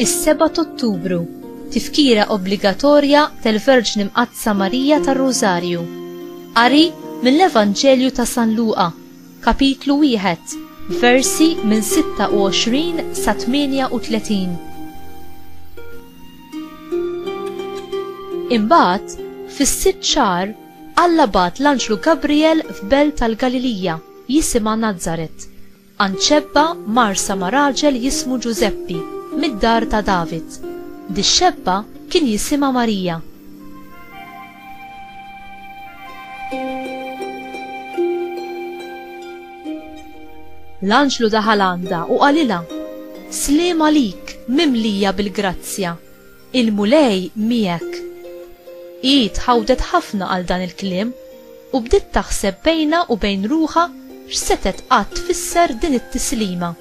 Is-7 Ottubru, tifkira obbligatorja tal-Verġni Mqaddsa Marija tar-Rużarju. Qari mill-Evanġelju ta' San Luqa Kapitlu wieħed, versi minn 26 sa 38 Imbagħad, fis-sitt xahar, Alla bagħat l-anġlu Gabrijel f'belt tal-Galilija jisimha Nazaret, għand xebba marsa ma' raġel jismu Ġużeppi, mid-dar ta' David. Dix-xebba kien jisimha Marija. L-anġlu daħal għandha u qalilha, Sliem għalik, mimlija bil-grazzja, il-Mulej miegħek. Hi tħawdet ħafna għal dan il-kliem u bdiet taħseb bejnha u bejn ruħha x'setgħet qatt tfisser din it-tislima.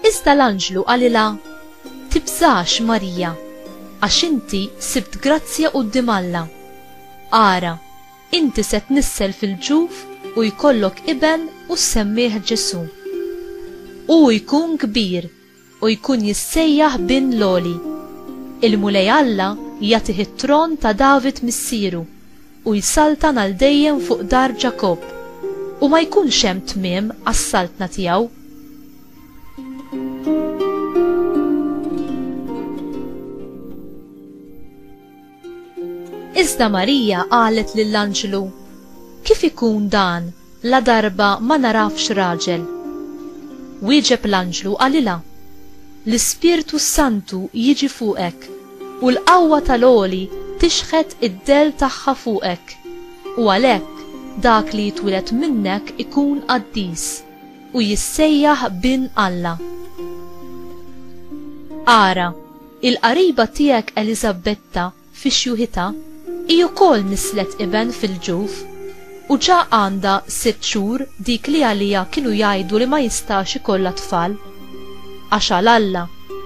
Iżda l-anġlu qalilha, Tibżax, Marija, għax inti sibt grazzja quddiem Alla. Ara, inti se tnissel fil-ġuf u jkollok iben u ssemmih Ġesù. Hu jkun kbir u jkun jissejjaħ Bin l-Għoli. Il-Mulej Alla jagħtih it-tron ta' David missieru, u jsaltan għal dejjem fuq dar Ġakobb, u ma jkunx hemm tmiem għas-saltna tiegħu. Iżda Marija qalet lill-anġlu, Kif ikun dan ladarba ma nagħrafx raġel? Wieġeb l-anġlu u qalilha, L-Ispirtu s-Santu jiġi fuqek, u l-qawwa tal-Għoli tixħet id-dell tagħha fuqek, u għalhekk dak li jitwieled minnek ikun qaddis, u jissejjaħ Bin Alla. Ara! Il-qariba tiegħek Eliżabetta fi xjuħitha hi wkoll nisslet iben fil-ġuf, u ġa għandha sitt xhur dik li għaliha kienu jgħidu li ma jistax ikollha tfal. Għax għal Alla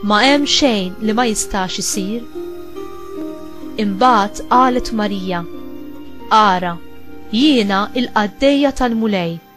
ma hemm xejn li ma jistax isir. Imbagħad qalet Marija, Ara, jiena l-qaddejja tal-Mulej!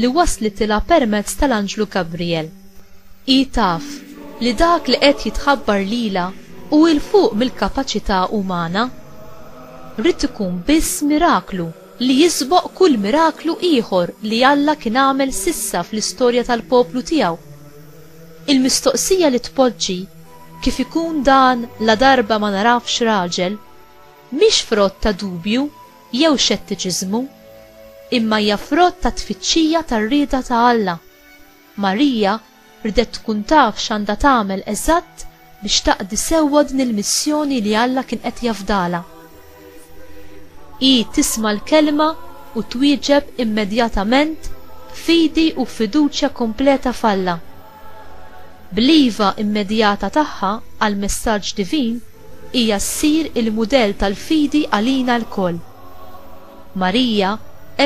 li waslitilha permezz tal-anġlu Gabrijel. Hi taf li dak li qed jitħabbar lilha hu 'l fuq mill-kapaċità umana. Ried ikun biss miraklu li jisboq kull miraklu ieħor li Alla kien għamel s'issa fl-istorja tal-poplu tiegħu. Il-mistoqsija li tpoġġi, Kif ikun dan ladarba ma narafx raġel? mhix frott ta' dubju. jew xettiċiżmu, imma hija frott tat-tfittxija tar-rieda ta' Alla. Marija rdet tkun taf x'għandha tagħmel eżatt biex taqdi sewwa din il-missjoni li Alla kien qed jafdalha. Hi tisma' l-Kelma u twieġeb immedjatament b'fidi u b'fiduċja kompleta f'Alla. Bl-iva immedjata tagħha għall-messaġġ divin, hija ssir il-mudell tal-fidi għalina lkoll. Marija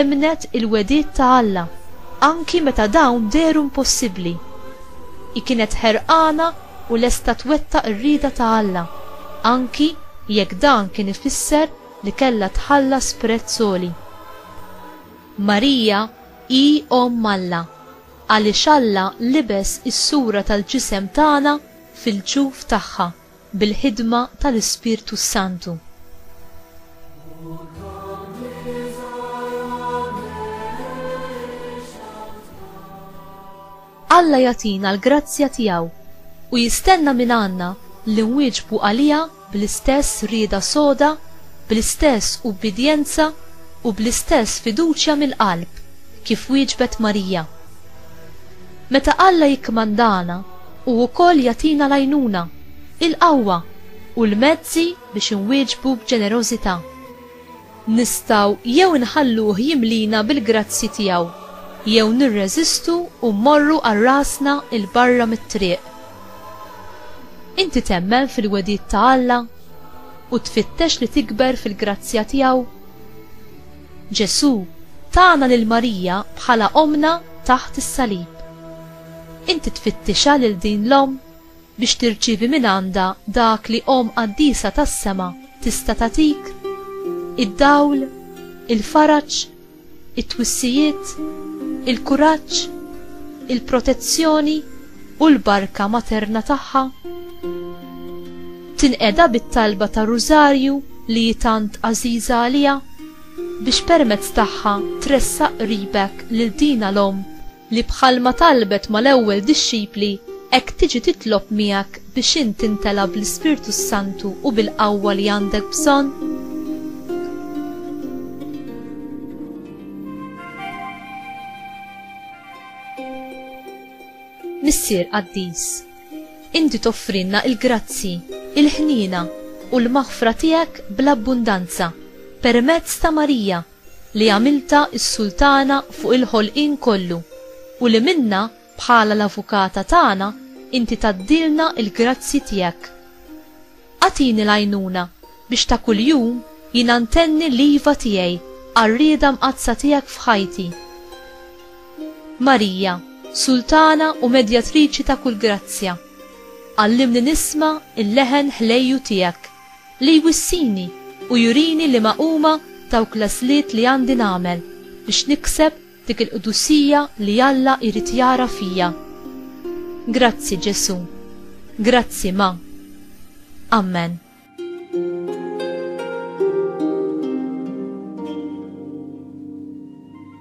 emmnet il-wegħdiet ta' Alla anki meta dawn dehru impossibbli. Hi kienet ħerqana u lesta twettaq ir-rieda ta' Alla, anki jekk dan kien ifisser li kellha tħallas prezz għoli. Marija hi Omm Alla. Għaliex Alla libes is-sura tal-ġisem tagħna fil-ġuf tagħha bil-ħidma tal-Ispirtu s-Santu. Alla jagħtina l-grazzja tiegħu u jistenna mingħandna li nwieġbu għaliha bl-istess rieda soda, bl-istess ubbidjenza u bl-istess fiduċja mill-qalb kif wieġbet Marija. Meta Alla jikkmandana, hu wkoll jagħtina l-għajnuna, il-qawwa u l-mezzi biex inwieġbu b'ġenerożità. Nistgħu jew inħalluh jimlina bil-grazzji tiegħu, jew nirreżistu u mmorru għal rasna 'l barra mit-triq. Inti temmen fil-wegħdiet ta' Alla u tfittex li tikber fil-grazzja tiegħu? Ġesù tana lil Marija bħala Ommna taħt is-salib. Inti tfittixha lil din l-Omm? biex tirċievi mingħandha dak li Omm Qaddisa tas-sema tista' tagħtik, id-dawl, il-faraġ, it-twissijiet, il-kuraġġ, il-protezzjoni u l-barka materna tagħha. Tinqeda bit-talba tar-Rużarju li hi tant għażiża għaliha, biex permezz tagħha tressaq qribek lil dina l-Omm. li bħalma talbet mal-ewwel dixxipli, hekk tiġi titlob miegħek biex int timtela bl-Ispirtu s-Santu u bil-qawwa li għandek bżonn? Missier qaddis, inti toffrinna il-grazzi, il-ħniena u l-maħfra tiegħek bl-abbundanza permezz ta' Marija li għamiltha s-Sultana fuq il-ħolqien kollu u li minnha bħala l-Avukata tagħna inti tgħaddilna l-grazzji tiegħek. Agħtini l-għajnuna biex ta' kuljum jiena ntenni l-iva tiegħi għar-rieda mqaddsa tiegħek f'ħajti. Marija, Sultana u Medjatriċi ta' kull grazzja, għallimni nisma' l-leħen ħlejju tiegħek. Li jwissini u jurini liema huma dawk l-għażliet li għandi nagħmel biex nikseb dik il-qdusija li Alla jrid jara fija. Grazzi, Ġesù. Grazzi, Ma. Ammen.